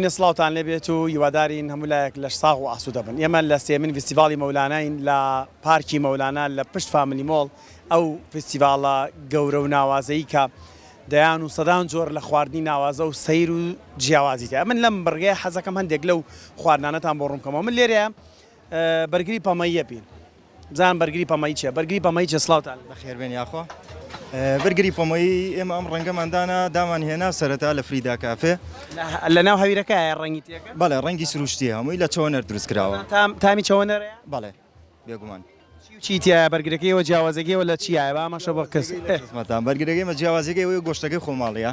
بەرزترین سڵاوتان لێ بێت و هیوادارین هەموو لایەک لەش ساغ و ئاسوودە بن. ئێمە لە سێیەمین ڤیستیڤاڵی مەولاناین لە پارکی مەولانا لە پشت فامیلی مۆڵ، ئەو ڤیستیڤاڵە گەورە و ناوازەی کە دەیان و سەدان جۆر لە خواردنی ناوازە و سەیر و جیاوازی تیایە. من لەم بڕگەیە حەزەکەم هەندێک لەو خواردنانەتان بۆ ڕوون بکەمەوە. من لێرەیا بەرگری پەمەییە بین. بزانم بەرگری پەمەیی چیە بەرگری پەمەیی چیە سڵاوتان لێبێت. بەخێربێن یاخوا بەرگری پەمەیی ئێمە ئەم ڕەنگەمان دانا دامان هێنا سەرەتا لە فریدا کافێ لەناو هەویرەکەیە ڕەنگی تێکە بەڵێ ڕەنگی سروشتیە هەمووی لە چەوەنەر دروست کراوە تام تامی چەوەنەرەیە بەڵێ بێگومان چی و چی تیایە بەرگرەکەیەوە جیاوازێگەیەوە لە چیایە بامەشە بۆ کەس خزمەتان بەرگرەکەی مە جیاوازێگەی ئەوەیە گۆشتەکەی خۆماڵیە.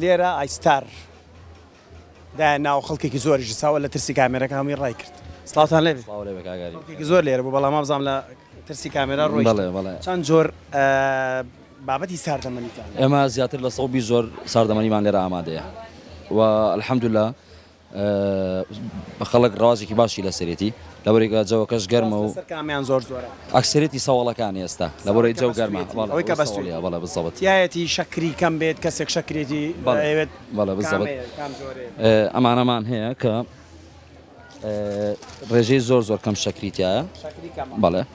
لێرە ئای ستار دایە ناو خەڵکێکی زۆریش ئیساوە لە ترسی کامێرەکە هەمووی ڕای کرد سڵاوتان لێ بێت سڵاو لێ بێ کاکاری خەڵکێکی زۆر لێرە بوو بەڵام وابزانم لە ترسی کامێرا ڕۆیشتن بەڵێ بەڵێ چەند جۆر بابەتی ساردەمەنیتان هەیە؟ ئێمە زیاتر لە سەد و بیست جۆر ساردەمەنیمان لێرە ئامادەیە و الحمدللە خەڵک ڕەواجێکی باشی لەسەرێتی لەبەرەی کە جەوەکەش گەرمە و لەسەر کامیان زۆر زۆرە؟ ئەکسەرێتی سەوەڵەکانی ئێستا لەبەرەی جەو گەرمە ئەوەی کە بەس بەڵێ بزەوت تیایەتی شەکری کەم بێت کەسێک شەکرێتی ئەوێت بەڵێ بزەوت ئەمانەمان هەیە کە ڕێژەی زۆر زۆر کەم شەکری تایە بەڵێ.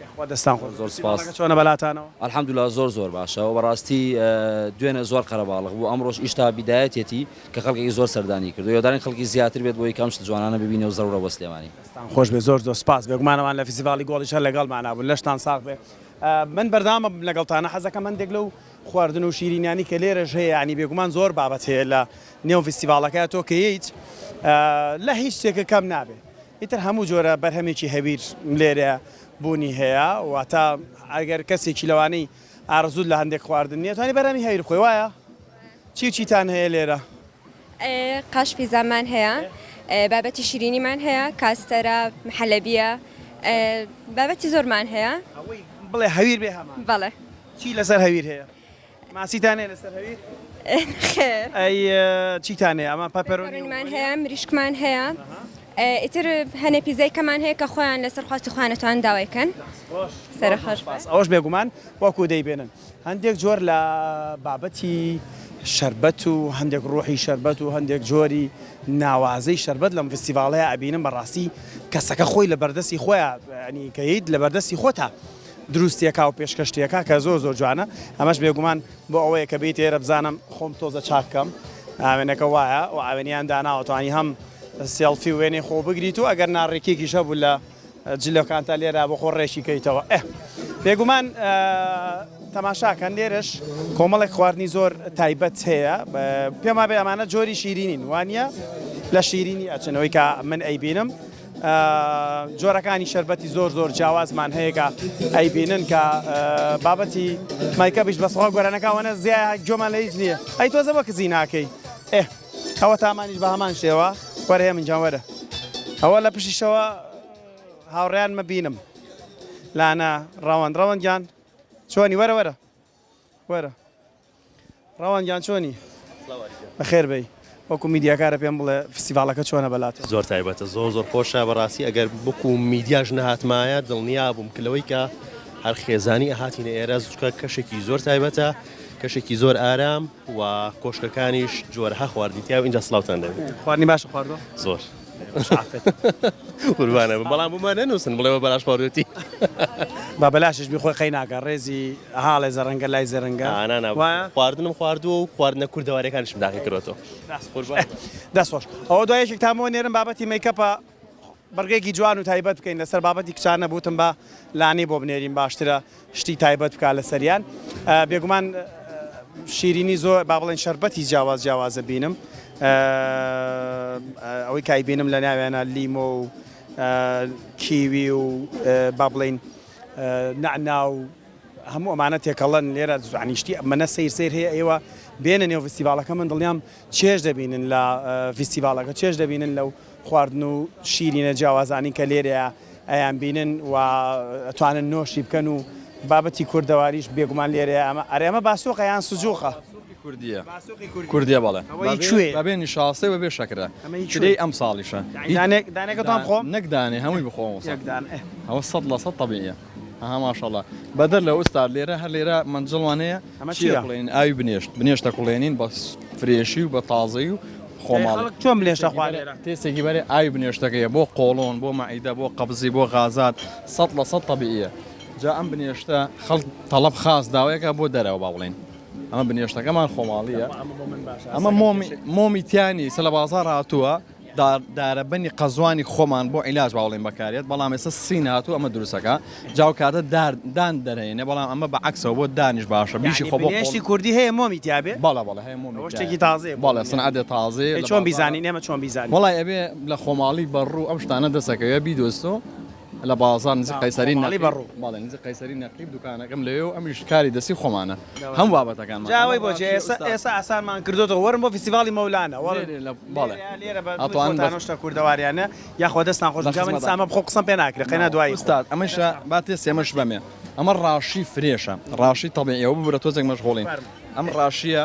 یاخوا دەستان خۆش بێت کەسی ماڵەکە چۆنە بەلاتانەوە. الحمدللە زۆر زۆر باشە وە بەڕاستی دوێنێ زۆر قەرەباڵغ بوو ئەمڕۆش ئیشتا بیدایەتیەتی کە خەڵکێکی زۆر سەردانی کردووە هیوادارین خەڵکی زیاتر بێت بۆی کە ئەم شتە جوانانە ببینێ و زەرورە بۆ سلێمانی. دەستان خۆش بێت زۆر زۆر سپاس بێگومان ئەوان لە فیسیڤاڵی گۆڵیش هەر لەگەڵمانا بوون لەشتان ساغ بێ من بەردەوامم لەگەڵتانا حەزەکەم هەندێک لەو خواردن و شیرینیانی کە لێرەش هەیە یانی بێگومان زۆر بابەت هەیە لە نێو فیستیڤاڵەکە تۆ کە یەیت لە هیچ شتێکە کەم نابێ ئیتر هەموو جۆرە بەرهەمێکی هەویر لێرە بوونی هەیە، واتە ئەگەر کەسێکی لەوانەی ئارەزووت لە هەندێک خواردن نییە، توانی بەرهەمی هەویر بخۆی، وایە؟ چی و چیتان هەیە لێرە؟ قاش پیزامان هەیە، بابەتی شیرینیمان هەیە، کاستەرە، محەلەبییە، بابەتی زۆرمان هەیە. ئەوەی بڵێ هەویر بێ هەمان. بەڵێ. چی لەسەر هەویر هەیە؟ ماسیتان هەیە لەسەر هەویر؟ خێر. ئەی چیتان هەیە؟ ئەمان پەپەرۆنیمان هەیە مریشکمان هەیە. ئیتر هەنێ پیزای کەمان هەیە کە خۆیان لەسەر خواستی خوانەتوان داوایکەن سەرخش ئەوش بێگومان وەکو دەیبێنن هەندێک جۆر لە بابەتی شربەت و هەندێک ڕۆحی شربەت و هەندێک جۆری ناوازەی شربەت لەم فستیڤالەیە ئەبینم بەڕاستی کەسەکە خۆی لە بەردەستی خۆیان ینی کەیت لە بەردەستی خۆتا دروستیەکا و پێشکەشتیەکا کە زۆر زۆر جوانە ئەمەش بێگومان بۆ ئەوەیە کە بیت ئێرە بزانم خۆم تۆزە چاک کەم ئاوێنەکە وایە و ئاوێنیان داناوەتوانی هەم سێڵفی وێنەی خۆ بگریت و ئەگەر ناڕێکێکیش هەبوو لە جلەکانتا لێرا بۆ خۆ ڕێکی کەیتەوە ئە بێگومان تەماشاکەن لێرەش کۆمەڵێک خواردنی زۆر تایبەت هەیە پێما بێ ئەمانە جۆری شیرینین وانە لە شیرینی ئەچنەوەی کە من ئەیبینم جۆرەکانی شەربەتی زۆر زۆر جیاوازمان هەیە کە ئەیبینن کە بابەتی مایکەبیش بەسەڵ گۆرانەکەوانە زیای گۆمان لە هیچ نییە ئەی تۆزە بە کزی ناکەی ئێ ئەوە تامانیش بە هەمان شێوە وەرەیە من جاوەرە ئەوە لە پشیشەوە هاوڕیان مەبینم لانا ڕەوەند ڕەوەندگیان چۆنی وەرە وەرە وەرە ڕەوان گیان چۆنی؟ بەخێر بێی وەکو میدیاکارە پێم بڵێ فستیڤاڵەکە چۆنە بەلات؟ زۆر تایبەتە زۆر زۆر خۆشە بەڕاستی ئەگەر بکو میدیاش نەهاتمایە دڵنیا بووم کە لەوەی کە هەر خێزانی ئەهاتینە ئێرە زوچکە کەشێکی زۆر تایبەتە کەشێکی زۆر ئارام و کۆشکەکانیش جۆرەها خواردنی تیا و ئینجا سڵاوتان لێ بێ خواردنی باشە خواردوە؟ زۆر. قوربانە بم بەڵام بۆمان نەنووسن بڵێ بە بەلاش پاڕێتی با بەلاشش بی خۆی قەی ناکە ڕێزی هاڵێ زەڕەنگە لای زەرەنگە ئانانا وایە خواردنم خواردووە و خواردنە کوردەوارەکانشم داخی کرۆتەوە دەست خۆش ئەوە دوای یەکێک تامەوە نێرم بابەتی میکەپە بڕگەیەکی جوان و تایبەت بکەین لەسەر بابەتی کچان نەبووتم بە لانی بۆ بنێرین باشترە شتی تایبەت بکا لەسەریان بێگومان شیرینی زۆر با بڵێن شربەتی جیاواز جیاوازە بینم ئەوەی کای بینم لە ناوێنە لیمۆ و کیوی و با بڵین نعنا و هەموو ئەمانە تێکەڵەن لێرە زانیشتی منە سیر سیر هەیە ئێوە بێنە نێو فستیڤالەکە من دڵیان چێژ دەبینن لە فستیڤالەکە چێژ دەبینن لەو خواردن و شیرینە جیاوازانی کە لێرەیە ئەیان بینن و ئەتوانن نۆشی بکەن و بابەتی کوردەواریش بێگومان لێرەیە ئەمە ئەرێ ئەمە باسۆقە یان سجوقە؟ باسۆقی کوردییە باسۆقی کوردی کوردییە بەڵێ ئەوەی کوێیە؟ بەبێ نیشاستەی و بەبێ شەکرە ئەمەی کوێیە؟ کرێی ئەمساڵیشە دانێک دانێکە تۆم خۆم؟ نەک دانێ هەمووی بخۆم یەک دانە ئەوە سەد لە سەد تەبیعییە. ئەها ماشاڵا بەدەر لە ئوستاد لێرە هەر لێرە مەنجڵوان هەیە ئەمە چیە بڵێن ئاوی بنێشت بنێشتە کوڵێنین بە فرێشی و بە تازەی و خۆماڵک چۆم لێشە خوارێ تێسێکی بەرێ ئاوی بنێشتەکەیە بۆ قۆڵۆن بۆ مەعیدە بۆ قەبزی بۆ غازات سە لە سە طببیە جا ئەم بنێشتە خەڵ تەڵب خاص داوایەکە بۆ دەرەوە با بڵێن ئەمە بنێشتەکەمان خۆماڵیە ئەمە مۆمیتیانی سە لە بازار هاتووە دارەبەنی قەزوانی خۆمان بۆ عیلاج با بڵێین بەکارێت بەڵام ئێستا سین هاتوو ئەمە دروستەکە جا و کاتە دار دان دەرێنێ بەڵام ئەمە بە عەکسەوە بۆ دانیش باشە بیشی خۆ بۆ قۆڵ یانی بنێشتی کوردی هەیە مۆمی تیا بێ؟ بەڵێ بەڵێ هەیە مۆمی تیا بێ ئەوە شتێکی تازەیە بۆ من بەڵێ یانی سنعەتێ تازەیە ئەی لە چۆن بازاڕا بیزانین ئێمە چۆن بیزانین؟ وەڵای ئەبێ لە خۆماڵی بەڕوو ئەم شتانە دەست ئەکەوێ بیدۆزیتەوە. لە بازاڕ نزیک قەیسەری نەقیب دوکانەکەم لەوێ و ئەمەیش کاری دەستی خۆمانە هەموو بابەتەکانمان. جا ئەوەی بۆچی ئێستا ئاسانمان کردۆتەوە وەرن بۆ فیستیڤاڵی مەولانە ئەتوانن شتە کوردەواریانە یاخوا دەستتان خۆش بێت. جا من سامە بخۆم قسەم پێ ناکرێ قەینا دوایی. ئوستاز ئەمەش با تێستی ئەمەش بەمێ ئەمە ڕاشی فرێشە ڕاشی تەبیعییە وە ببورە تۆزێک مەشغوڵین ئەم ڕاشییە.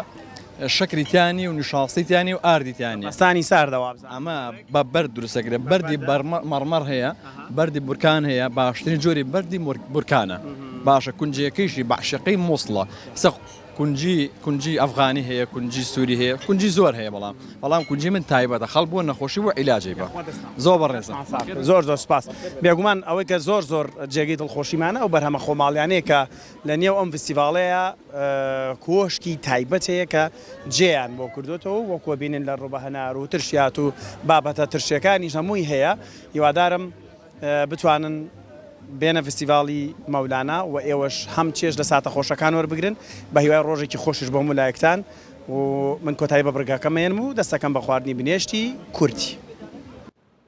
شەکری تیا نیە و نشاستی تیا نیە و ئاردی تیا نیە. پەستانی ساردە وابزانم. ئەمە بە بەرد دروست دەکرێت بەردی مەڕمەڕ هەیە بەردی بورکان هەیە باشترین جۆری بەردی بورکانە باشە کونجەکەیشی بەعشقی مووسڵە سەخ کونجی کونجی ئەفغانی هەیە کونجی سووری هەیە کونجی زۆر هەیە بەڵام بەڵام کونجی من تایبەتە خەڵ بۆ نەخۆشی بۆ عیلاجی بە زۆر بەڕێزە زۆر زۆر سپاس بێگومان ئەوەی کە زۆر زۆر جێگەی دڵخۆشیمانە ئەو بەرهەمە خۆماڵیانەیە کە لە نێو ئەم فستیڤاڵەیا کۆشکی تایبەت هەیە کە جێیان بۆ کردۆتەوە و وەکوە بینن لە ڕوبە هەنار و ترشیات و بابەتە ترشیەکانیش هەمووی هەیە هیوادارم بتوانن بێنە فستیڤاڵی مەولانا و ئێوەش هەم چێژ لە ساتە خۆشەکان وەربگرن بە هیوای ڕۆژێکی خۆشیش بۆ هەموو لایەکتان و من کۆتایی بە بڕگاکەم مەیەنم و دەستەکەم بە خواردنی بنێشتی کورتی.